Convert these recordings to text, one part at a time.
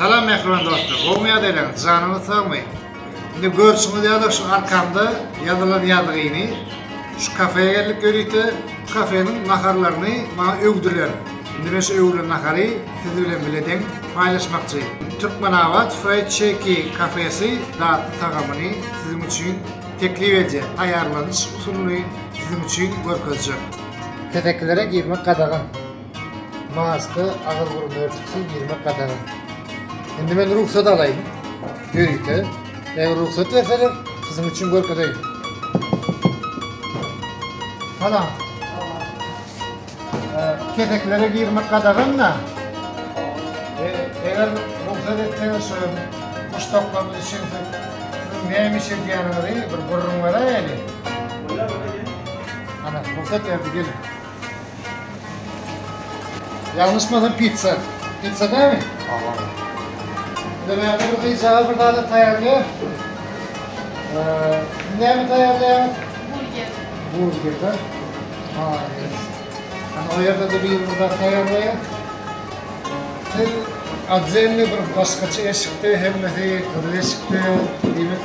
Salam mähriban dostlar! Gowmy ýagdaýlaryňyz? Janyňyz sagmy? Indi görşüňiz ýaly şu arkamda ýazylan ýazgyny şu kafeýa geldik ýörite. Şu kafeniň naharlaryny maňa öwdüler. Indi men şu öwülen nahary siz bilen biledeň paýlaşmakçy. Türkmenabat Fried Shake kafesi datly tagamyny siziň üçin teklip edýär. Taýýarlanyş usulyny siziň üçin görkezjek. Kesekilere girmek gadagan. Maska, agyz burun örtüksi girmek gadagan. Indi men rugsat alaýyn. Ýörite. Eger rugsat berseler, siziň üçin görkezeýin. Salam. Keseklere girmek gadagan da. Eger rugsat etseňiz şu muşdaklaryň üçin siz näme iş edýäniňizi bir gürrüň beräýeli. Ana rugsat berdi gelin. Ýalňyşmasam pitsa. Pitsa dämi? Hawa. Indi näme bir gyzjagaz bir zady taýýarlaýar. Näme taýýarlaýar? Burger. Burger da. Maýa. Ana o ýerde de bir zat taýýarlaýar. Siz adzenli bir başgaça eşikde hemmesi gyzyl eşikde. Diýmek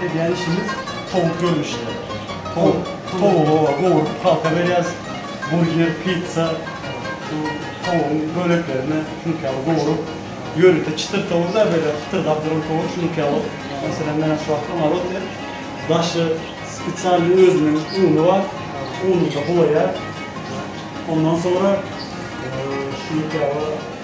Edýän işimiz towuk görnüşinde. Towuk, towugy gowrup halka berýäs. Burger, pizza, şu towugyň böleklerini şunuňky ýaly gowrup, ýörite çytyr towuk däl, beýle hytyrdap duran towuk şunuňky ýaly. Meselem, men şu wagtda moroze, daşy spesialnyý özüniň uny bar, ununda bulaýar. Ondan soňra şunuňky ýaly.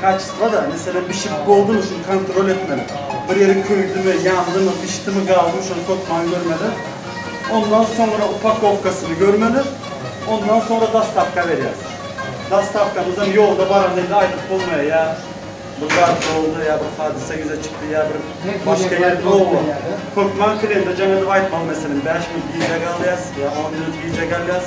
Kaçestwo-da, meselem, bişirip boldumy, şuny kontrol etmeli. Bir ýeri köýdümi, ýandymy, bişdimi, galdymy, şony topman görmeli. Ondan soňra upakowkasyny görmeli. Ondan soňra dostawka berýäs. Dostawkamyzam ýolda baranda indi aýdyp bolmaýar, ýa bir zat boldy, ýa bir hadysa ýüze çykdy, ýa bir başga ýer, oba. Hökman klende jaň edip aýtmaly, meselem, bäş minut gijä galýas, ýa on minut gijä galýas.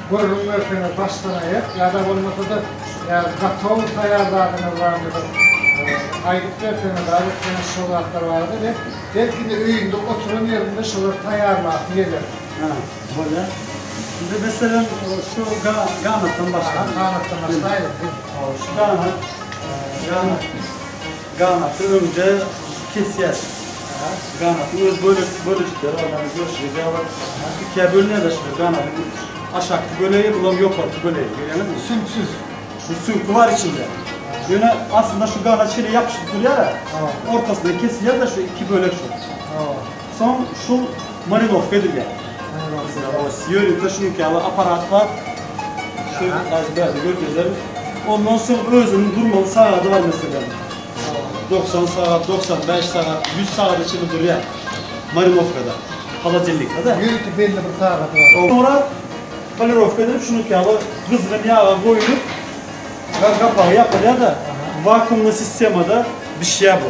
gürrüň berseňiz başdan aýak ýa-da bolmasa-da ýa-da gatow taýýar zadyňyz barmydyr aýdyp berseňiz aýratyn şol zatlar barada we belki indi öýünde oturan ýerinde şolary taýýarlasy geler. Hä, bolýar. Indi meselem şu ganatdan başlaýyn. Ganatdan başlaýyň. Şu ganat, ganat. Ganaty öňde kesýäs. Ganatyň öz bölejikleri bar, mana görşüňizýa bir ikiýa bölünýärler şular ganadyň aşakky bölegi, bulam ýokarky bölegi. Görýäňizmi? Süňksüz. Bu süňki bar içinde. Ýöne aslynda şu ganat şeýle ýapyşyp durýar-a. Ortasyndan kesilýär-de şu iki bölek şu. Soň şul marinowka edilýär. Marinowka. Oba ýörite şunuň ýaly aparat bar. Şu häzir bärde görkezerin. Ondan soň özüniň durmaly sagady bar meselem. Dogsan sagat, dogsan bäş sagat, ýüz sagada çenli durýar marinowkada. Holodilnikde-de. Ýörite belli bir sagady bar. Soňra polirowka edilip şunuň ýaly gyzgyn ýaga goýlup gapagy ýapylýar-da, wakuumly sistemada bişýär bu.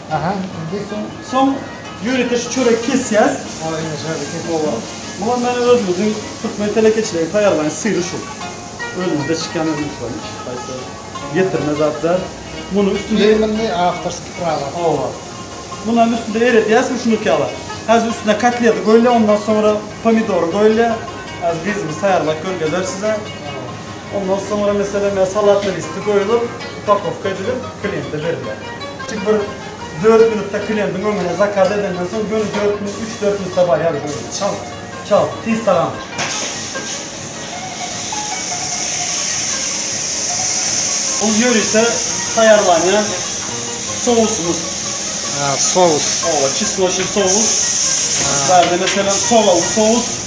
Aha indi soň. Soň ýörite şu çöregi kesýäs. Ha indi şeýle kesip bolýar. Muňa meniň özümiziň türkmen telekeçileri taýýarlaýan syry şu. Özümizde çykýan özümiz şu hiç haýsy getirme zat däl. Muny üstünde Firmany awtorski prawa. Hawa. Munyň üstünde eredýäs ruşnik ýaly. Häzir üstüne kotleti goýulýar ondan soňra pomidory goýulýar. Häzir gyzymyz taýýarlap görkezer size. Ondan soňra meselem salatlar üsti goýulyp, upakowka edilip, kliente berilýär. Çünki bir dört minutda klientiň öňüne zakaz edenden soň göni dört minut, üç-dört minutda barýar biz öýüne. Çalt, çalt, tiz tagam. Bul ýörite taýýarlanýan sousymyz. Sous. Oba, çesnoçly sous. Bärde meselem solaw sous.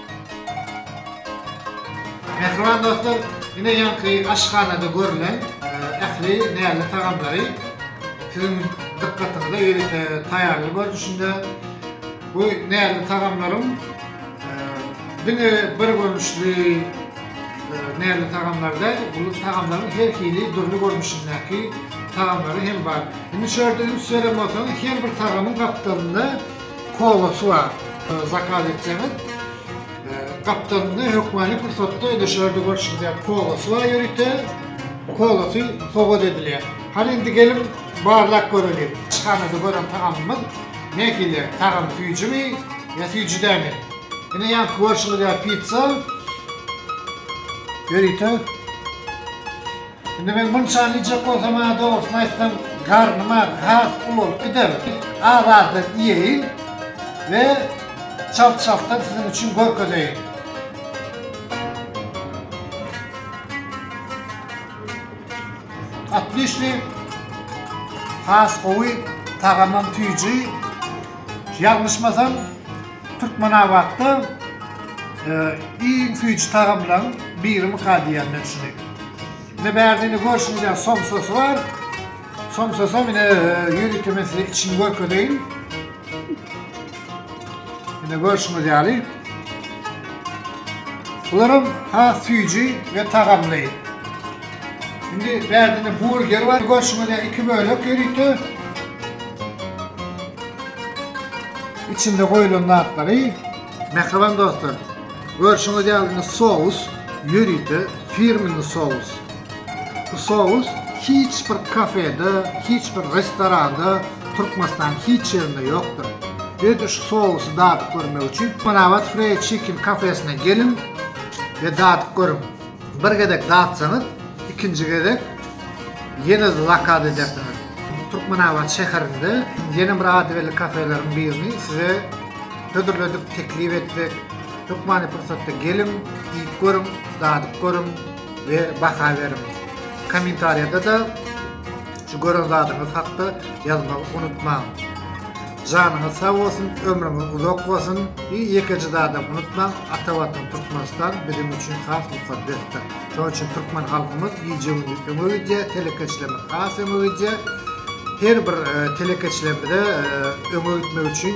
Mähriban dostlar, ine ýaňky aşhanada görlen ähli näzli tagamlary siziň dykgatyňyza ýörite taýýarly görnüşinde bu näzli tagamlaryň diňe bir görnüşli näzli tagamlar däl, bu tagamlaryň her hili dürli görnüşindäki tagamlary hem bar. Indi şu ýerde üns beren bolsaňyz her bir tagamyň gapdalynda Kola suwa zakaz etseňiz gapdalynda hökmany pursatda ödeşlerde görşüldýän kola suwa ýörite kola suw sowgat edilýär. Hany indi geliň barlap göreliň. Çyhanada gören tagamymyz nähili tagamy süýjümi ýa süýji dälmi. Ine ýanky görşüňiz ýaly pizza ýörite. Indi men munçany iýjek bolsam-a, dogrusyny aýtsam, garnym agry has ulalyp gider. Az-azdan iýeýin we çalt-çaltdan siziň üçin görkezeýin. Otliçniý, has gowy, tagamam tüýji. Ýalňyşmasam, Türkmenabatda iň süýji tagamlaň birimika diýýän men şuny. Ine bärde ine görşüňiz ýaly somsasy bar. Somsasam ine ýörite men size içini görkezeýin. Ine görşüňiz ýaly. Bularam has süýji we tagamly. Indi bärde ine burger bar. Görşüňiz ýaly iki bölek ýörite. Içinde goýulan zatlary Mähriban dostlar görşüňiz ýaly indi sous ýörite firmini sous. Bu sous hiç bir kafede, hiç bir restoranda Türkmenistanyň hiç ýerinde ýokdur. Ýöne şu sousy dadyp görmek üçin Türkmenabat Freýd Çikin kafesine geliň we dadyp görüň. Bir gezek datsaňyz, ikinji gezek ýene zakaz edersiňiz. Türkmenabat şäherinde ýene bir ady belli kafeleriň birini size hödürledik, teklip etdik. Hökmany pursatda geliň, iýip görüň, dadyp görüň we baha beriň. Kommentariýada-da Şu gören zadyňyz hakda ýazmagy unutmaň. Janyňyz sag bolsun ömrüňiz uzak bolsun i ýekeje zadam unutmaň ata watan Türkmenistan biziň üçin has mukaddesdir şonuň üçin türkmen halkymyz gije gündiz öňe gidýär telekeçilerimiz has öňe gidýär her bir telekeçilerimize öňe gitmek üçin